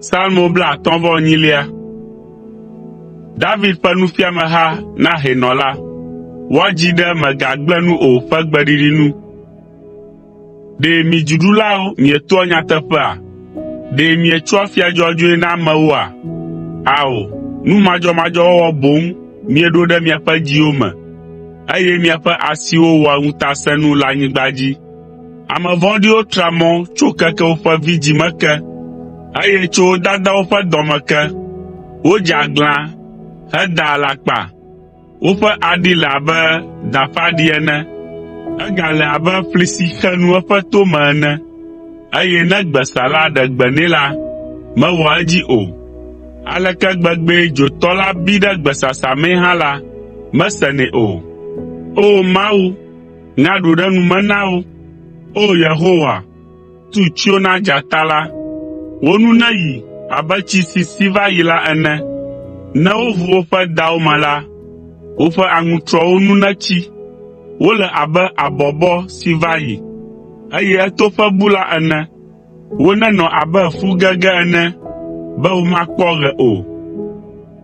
Salmo blaatɔ̃ vɔ enyilia. David ƒe nufiameha na hɛnɔ la. Woadzi ɖe “Mègagblẽ nu o” ƒe gbeɖiɖi nu. Ɖe mi dziɖulawo mietoa nyateƒea? Ɖe mietsoa afia dzɔdzɔe na amewoa? Ao, nu madzɔmadzɔ wɔwɔ boŋ mieɖo ɖe miaƒe dziwo me. eye miaƒe asiwo wɔa ŋutasẽnu le anyigba dzi. Ame vɔ̃ɖiwo tra mɔ tso keke woƒe vidzĩ me ke, eye tso wo dadawo ƒe dɔ me ke. Wodze aglã hedaa alakpa, woƒe aɖi le abe da ƒe aɖi ene. Egale abe ƒli si xe nu eƒe tome ene, eye ne gbesala ɖe gbe nɛ la, mewɔa edzi o. Aleke gbegbee dzotɔ la bi ɖe gbesasa mee hã la, mesenɛ o! O Mawu, ŋa ɖo ɖe nu me na wo. O Yehowa, tu tsyo na dzata la. Wo nu neyi abe tsi si si va yi la ene. Ne woʋu woƒe dawo me la, woƒe aŋutrɔwo nu netsi. Wole abe abɔbɔ si va yi, eye etoƒe bu la ene. Wonenɔ abe fu gege ene be womakpɔ ɣe o,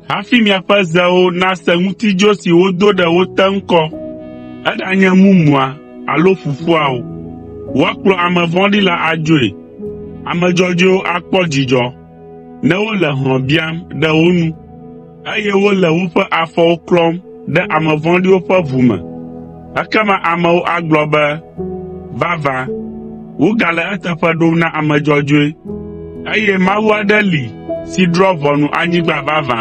hafi miaƒe zewo nase ŋutidzo si wodo ɖe wo te ŋkɔ, eɖanye mumua alo ƒuƒua o. Woakplɔ ame vɔ̃ɖi la adzoe. Ame dzɔdzɔewo akpɔ dzidzɔ ne wole hlɔ̃ biam ɖe wo nu. eye wole woƒe afɔwo klɔm ɖe ame vɔ̃ɖiwo ƒe ʋu me. Ekema amewo agblɔ be, “Vavã, wogale eteƒe ɖom na ame dzɔdzɔe, eye Mawu aɖe li si drɔ̃a ʋɔnu anyigba vavã.”